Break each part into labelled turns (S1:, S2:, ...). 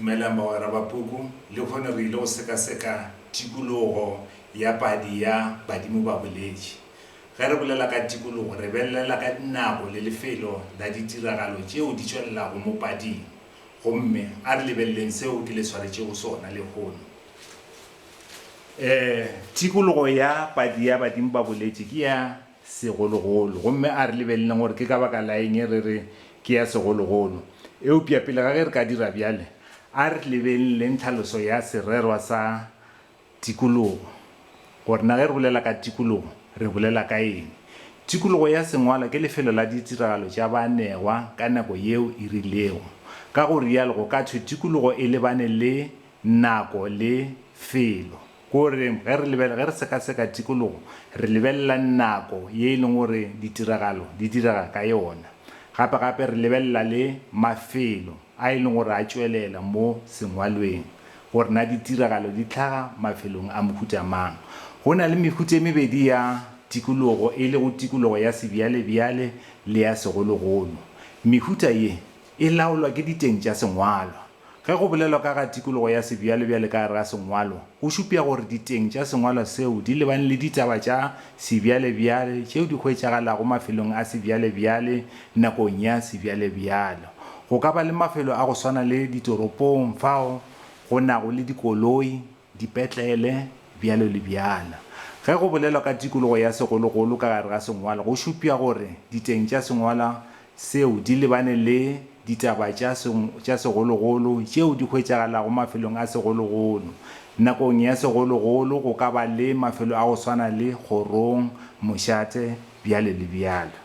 S1: Dumelang bagwera ba puku. Lehono re ile go sekaseka tikologo ya padi ya Badimo ba Boletše. Ge re bolela ka tikologo, re belelela ka dinako le lefelo la ditiragalo tšeo di tšwelelago mo pading. Gomme a re lebeleleng seo ke le swaretšego sona lehono. Ee, tikologo ya padi ya Badimo ba Boletše ke ya segologolo, gomme a re lebeleleng gore ke ka baka la eng re re ke ya segologolo. Eupša pele ga ge re ka dira bjale, a re lebeleleng tlhaloso ya sererwa sa tikologo, gore na ge re bolela ka tikologo re bolela ka eng. Tikologo ya Sengwalwa ke lefelo la ditiragalo tša baanegwa ka nako yeo e rilego. Ka go rialo go ka thwe tikologo e lebane le nako le felo. Ke gore ge re lebelela, ge re sekaseka tikologo, re lebelela nako ye e leng gore ditiragalo di direga ka yona. Gape-gape re lebelela le mafelo a e leng gore a tšwelela mo sengwalweng, gore na ditiragalo di tlhaga mafelong a mohuta mang. Go na le mehuta e mebedi ya tikologo, e lego tikologo ya sebjalebjale le ya segologolo. Mehuta ye e laolwa ke diteng tša sengwalwa. Ge go bolelwa ka ga tikologo ya sebjalebjale ka gare ga sengwalo, go šupja gore diteng tša sengwalo seo di lebane le ditaba tša sebjalebjale tšeo di hwetšagalago mafelong a sebjalebjale nakong ya sebjalebjale. Go ka ba le mafelo a go swana le ditoropong fao go nago le dikoloi, dipetlele, bjalo le bjalo. Ge go bolelwa ka tikologo ya segologolo ka gare ga sengwalo go šupša gore diteng tša sengwala seo di lebane le ditaba tša segologolo tšeo di hwetšagalago mafelong a segologolo. Nakong ya segologolo go ka ba le mafelo a go swana le kgorong, mošate, bjalo le bjalo.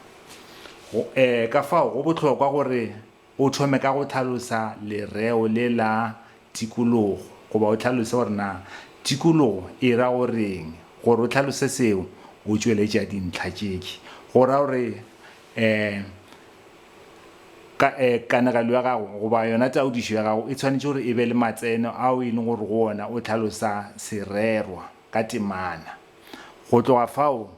S1: Go, ee, ka fao go bohlokwa gore O thome ka go hlalosa lereo le la tikologo goba o hlalose gore na tikologo e ra go reng. Gore o hlalose seo, o tšweletša dintlha tšeki. Go ra gore kanegelo ya gago goba yona taodišo ya gago e tshwanetše gore e be le matseno ao e leng gore go ona o hlalosa sererwa. ka temana. Go tloga fao,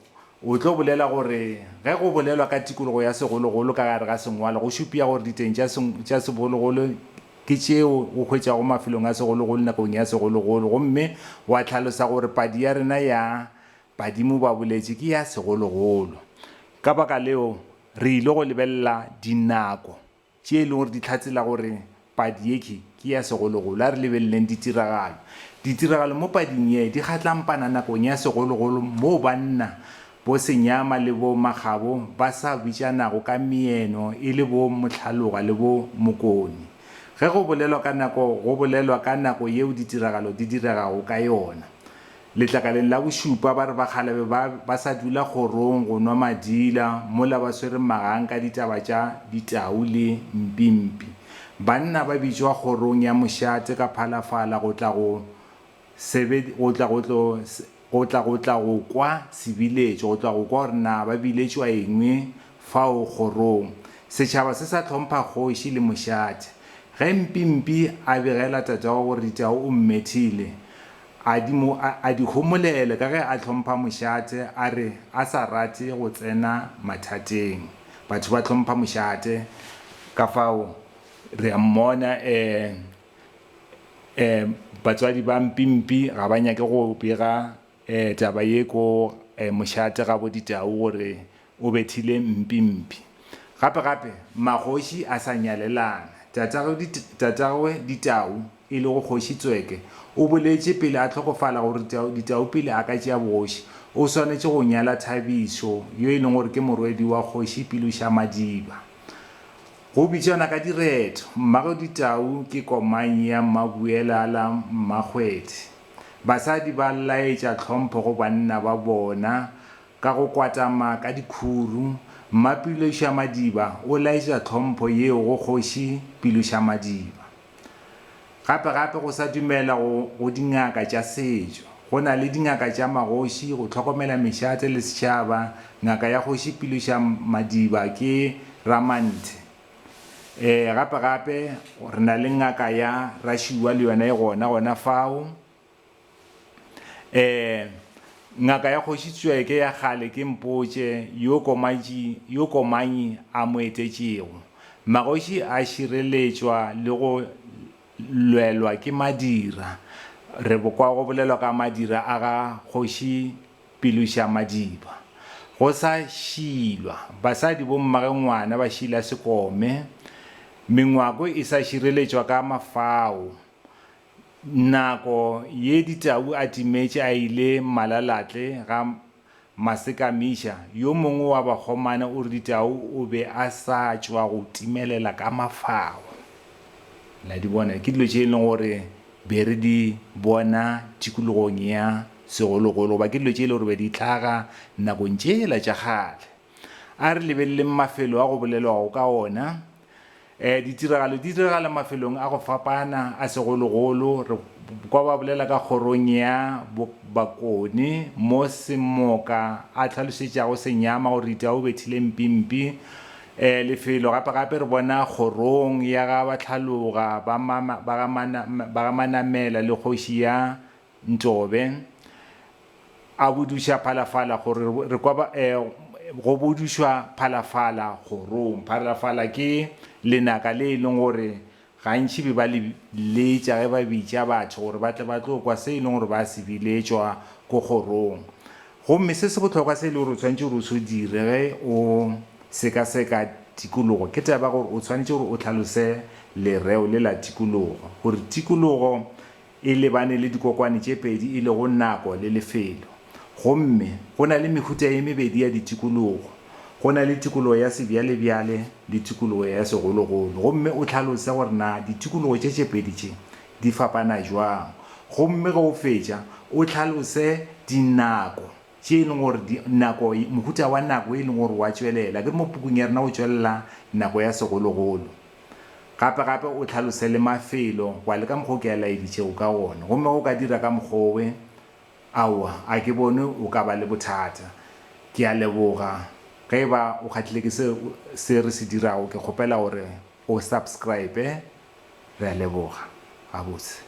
S1: o tlo bolela gore ge go bolelwa ka tikologo ya segologolo ka gare ga sengwalo go šupia gore diteng tša segologolo ke tšeo o hwetšago mafelong a segologolo nakong ya segologolo gomme wa hlalosa gore padi ya rena ya badimo ba boletše ke ya segologolo. Ka baka leo, re ile go lebelela dinako tše e lego gore di hlatsela gore padi ye ke ke ya segologolo. A re lebeleleng ditiragalo. Ditiragalo mo pading ye di kgatlampana nakong ya segologolo moo banna, bo Senyama le bo Makgabo, ba sa bitšanago ka meeno e le bo Mohlaloga le bo Mokoni. Ge go bolelwa ka nako go bolelwa ka nako yeo ditiragalo di diregago ka yona. Letlakaleng la bošupa ba re ba kgale be ba ba sa dula kgorong go nwa madila mola ba swere magang ka ditaba tša ditau le mpimpi. Banna ba bitšwa kgorong ya mošate ka phalafala go tla go sebed, go tla go tlo, go tla go tla go kwa sebiletšo, go tla go kwa gore na ba biletšwa eng fao kgorong. Setšhaba se sa hlompha kgoši le mošate. Ge mpimpi a begela tatagwe gore ditau o mmethile, A di mo a, a di homolele ka ge a hlompha mošate, a re a sa rate go tsena mathateng. Batho ba hlompha mošate, ka fao re a mmona. Um, um, batswadi ba mpimpi ga ba nyake go bega um taba ye ko um mošate ga bo ditau gore O bethile mpi mpi. Gape gape, magoši a sa nyalelana. Tatagwe Ditau, e lego Kgoši Tsweke, o boletše pele a hlokofala gore Ditau pele a ka tšea bogoši, o swanetše go nyala Thabišo, yo e leng gore ke morwedi wa Kgoši Pilošamadiba. Go bitšwana ka diretho. Mmagwe Ditau ke komang ya Mmabuelala Mmakgwedi. Basadi ba laetša tlhompho go banna ba bona Ka go kwatama ka dikhuru, Mmapilošamadiba o laetša tlhompho yeo go Kgoši Pilošamadiba. Gape-gape go sa dumelwa go go dingaka tša setšo. Go na le dingaka tša magoši go hlokomela mešate le setšhaba, ngaka ya Kgoši Pilošamadiba ke Ramanthe. Ee, gape-gape re na le ngaka ya Rašuwa le yona e gona gona fao. Ee, ngaka ya Kgoši Tsweke ya kgale ke mpotše yo Komatši yo Komanyi a mo etetšego. Magoši a šireletšwa le go lwelwa ke madira. Re bo kwa go bolelwa ka madira a ga Kgoši Pilošamadiba. Go sa šilwa, basadi bo mmage ngwana ba šila sekome. Mengwako e sa šireletšwa ka mafao. Nako ye Ditau a timetše a ile Malalatle ga Masekamiša, yo mongwe wa bakgomana o re Ditau o be a sa tšwa go timelela ka mafao. Le a di bona? Ke dilo tše e leng gore be re di bona tikologong ya segologolo goba ke dilo tše e leng gore be di hlaga nakong tšela tša kgale. A re lebeleleng mafelo a go bolelwago ka ona. Ditiragalo di diragala mafelong a go fapana, a segologolo re kwa ba bolela ka kgorong ya Bakoni mo Semoka a hlalošetšago Senyama gore Ita o bethile Mpimpi lefelo, gape gape re bona kgorong ya ga Batlhaloga ba ga Manamela le kgoši ya Ntlobe, A buduša phalafala gore re kwa ba, eh, go budušwa phalafala kgorong. Phalafala ke lenaka le e leng gore gantši be ba le letša ge ba bitša batho gore ba tle ba tlo kwa se e leng gore ba se biletšwa ko kgorong. Gomme se se bohlokwa se e le gore o tshwanetše gore o se dire ge o sekaseka tikologo ke taba ya gore o tshwanetše gore o hlalose lereo le la tikologo gore tikologo E lebane le dikokwane tše pedi e lego nako le lefelo. Gomme go na le mehuta ye mebedi ya ditikologo. Go na le tikologo ya sebjalebjale le tikologo ya segologolo. Gomme o hlalose gore na ditikologo tše tše pedi tše di fapana bjang. Gomme ge o fetša, o hlalose dinako tše e lego gore di, nako, mohuta wa nako e lego gore o a tšwelela, akere mo pukung ya rena o tšwelela nako ya segologolo. Gape, gape o hlalose le mafelo, wa le ka mokgwa o ke a laeditšego ka wona. Gomme ge o ka dira ka mokgwa owe, aowa, a ke bone o ka ba le bothata. Ke a leboga. Ge e ba o kgahlile ke se, se re se dirago, ke kgopela gore o subscribe. Re a leboga gabotse.